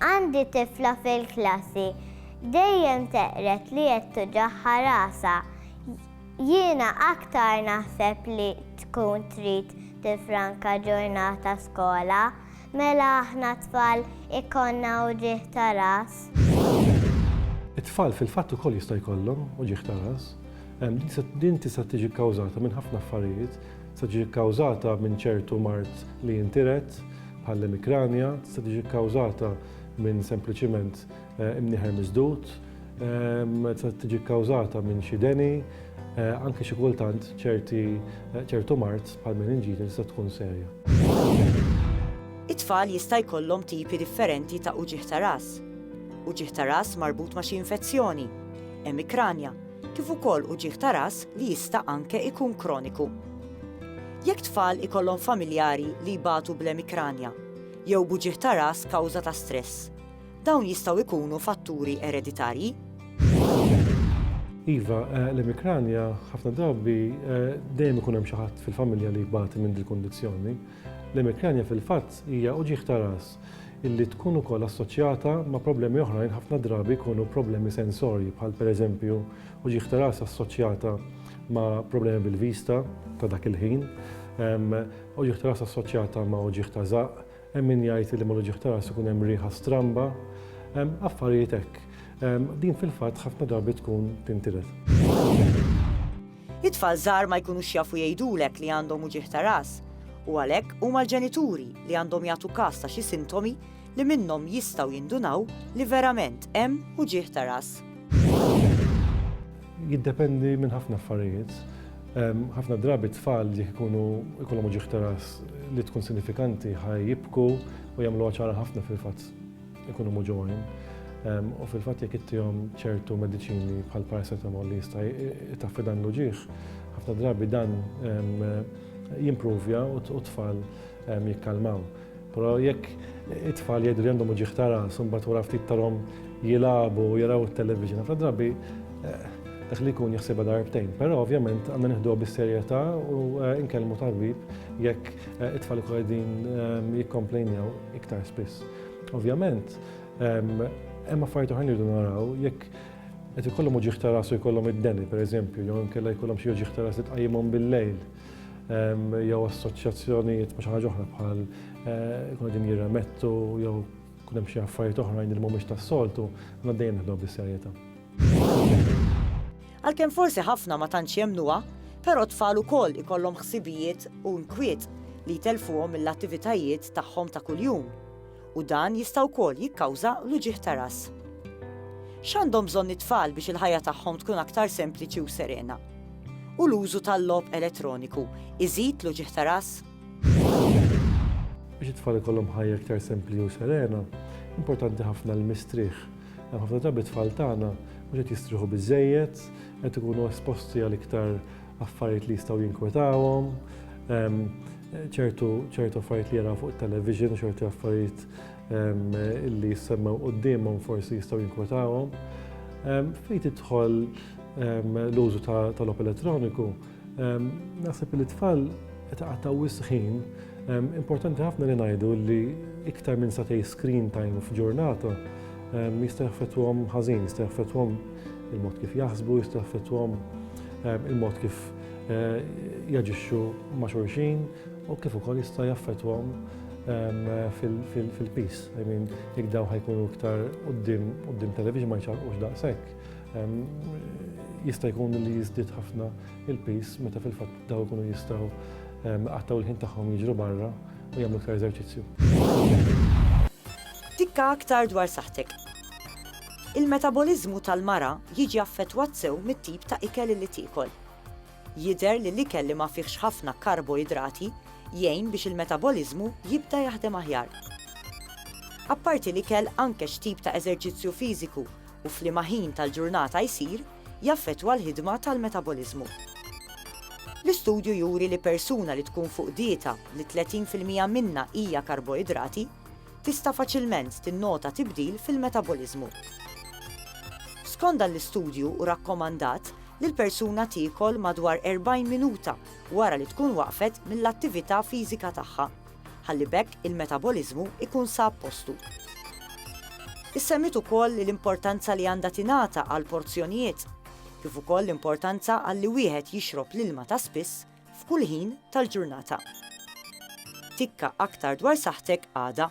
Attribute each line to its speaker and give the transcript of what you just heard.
Speaker 1: Għandi tifla fil-klassi dejjem teqred li qed tuġagħha rasha. Jiena aktar naħseb li tkun trid tiffranka ġurnata skola. Mela aħna tfal ikollna uġigħ ta' ras? It-tfal fil-fatt ukoll jista' jkollhom uġigħ ta' ras. Din tista' tiġi kkawżata minn ħafna affarijiet. Tista' tiġi kkawżata minn ċertu mard li jintiret, bħall-emikranja, tista' tiġi kkawżata minn sempliċiment imnieħer miżdud, tista' tiġi kkawżata minn xi deni, anke xi kultant ċerti ċertu mard bħall-meninġite tista' tkun serja. It-tfal jista' jkollhom tipi differenti ta' uġigħ ta' ras. Uġigħ ta' ras marbut ma' xi infezzjoni. Emikranja, kif ukoll uġigħ ta' ras li jista' anke jkun kroniku. Jekk tfal ikollhom familjari li jbatu bl-emikranja jew b'uġigħ ta' ras kawża ta' stress, dawn jistgħu jkunu fatturi ereditarji? Iva, l-emikranja ħafna drabi dejjem ikun hemm xi ħadd fil-familja li jbati minn dil-kundizzjoni. L-emikranja fil-fatt hija uġigħ ta' ras illi tkun ukoll assoċjata ma' problemi oħrajn ħafna drabi jkunu problemi sensorji bħal pereżempju uġigħ ta' ras assoċjata ma' problemi bil-vista ta' dak il-ħin, uġigħ ta' ras assoċjata ma' uġigħ ta' żaqq, hemm min jgħid li mal-uġigħ ta' ras ikun hemm riħa stramba, affarijiet hekk. Din fil-fatt ħafna drabi tkun tintilef. It-tfal żgħar ma jkunux jafu jgħidulek li għandhom uġigħ ta' ras, u għalhekk huma l-ġenituri li għandhom jagħtu kas ta' xi sintomi li minnhom jistgħu jindunaw li verament hemm uġigħ ta' ras. Jiddependi minn ħafna affarijiet. Ħafna drabi t-tfal jekk ikunu jkollhom uġigħ ta' ras li tkun sinifikanti ħa jibku u jagħmluha ċara ħafna fil-fatt. Ikunu muġuwin. U fil-fatt jekk ittihom ċertu mediċini bħal paracetamol li jista' jtaffi dan l-uġieħ, ħafna drabi dan jimprovja u t-tfal jikkalmaw. Però jekk it-tfal jgħidu li għandhom uġieħ ta' ras, imbagħad wara ftit tarhom jilagħbu, jaraw it-television, ħafna drabi dak li jkun jaħsibha darbtejn. Però ovvjament għandna nieħduha bis-serjetà u nkellmu tabib jekk it-tfal ikunu qegħdin jikkomplejnew iktar spiss. Ovvjament, hemm affarijiet oħrajn irridu naraw jekk qed ikollhom uġieħ ta' rasu jkollhom id-deni, pereżempju, jew inkella jkollhom xi uġieħ ta' ras li tqajjimhom bil-lejl jew assoċjazzjonijiet ma' xi ħaġa oħra bħal eh, kuna din jirremettu jew kun hemm xi affarijiet oħrajn li mhumiex tas-soltu, għandna dejjem nħdu bis-serjetà. Għalkemm forsi ħafna ma tantx jemmnuha, però t-tfal ukoll ikollhom ħsibijiet u inkwiet li jtellfuhom mill-attivitajiet tagħhom ta' kuljum, u dan jista' wkoll jikkawża l-uġigħ ta' ras. X'għandhom bżonn it-tfal biex il-ħajja tagħhom tkun aktar sempliċi u serena? U l-użu tal-logħob elettroniku iżid l-uġigħ ta' ras? Biex it-tfal ikollhom ħajja iktar sempli u serena, importanti ħafna l-mistrieħ. Hemm ħafna drabi t-tfal tagħna mhux qed jistrieħu biżżejjed, qed ikunu esposti għal iktar affarijiet li jistgħu jinkwetawhom, ehm, ċertu ċertu affarijiet li jaraw fuq it-television, ċertu affarijiet ehm, li jissemmew quddiemhom forsi jistgħu jinkwetawhom. Ehm, fejn tidħol l-użu tal-op elettroniku, Naħseb li tfal itaqataw wisħin, importanti ħafna li ngħidu li iktar minn satej screen time f'ġurnata jista' jaffettwhom ħażin, jista' jaffettwhom il-mod kif jaħsbu, jista' jaffettwhom il-mod kif eh, jaġixxu ma' xulxin u kif ukoll jista' jaffettwhom fil-pis. I mean, jekk daw ħajkunu iktar qudiem television ma jċarqux daqshekk. Jista' jkun li jiżdied ħafna il-pis meta fil-fatt daw ikunu jistgħu qattaw il-ħin tagħhom jiġru barra u jagħmlu iktar eżerċizzju. Tikka aktar dwar saħtek. Il-metaboliżmu tal-mara jiġi affettwat sew mit-tip ta' ikel li tiekol. Jidher li l-ikel li ma fihx ħafna karboidrati jgħin biex il-metaboliżmu jibda jaħdem aħjar. Apparti l-ikel anke x'tip ta' eżerċizzju fiżiku u f'liema ħin tal-ġurnata jsir, jaffettwa l-ħidma tal-metaboliżmu. L-istudju juri li persuna li tkun fuq dieta li 30 fil-mija minnha hija karboidrati tista' faċilment tinnota tibdil fil-metaboliżmu. Skond dan l-istudju hu rakkomandat li l-persuna tiekol madwar 40 minuta wara li tkun waqfet mill-attività fiżika tagħha ħalli b'hekk il-metaboliżmu jkun sab postu. Issemmiet ukoll l-importanza li għandha tingħata għall-porzjonijiet kif ukoll l-importanza għal li wieħed jixrob l-ilma ta' spiss f'kull ħin tal-ġurnata. Tikka aktar dwar saħħtek għada.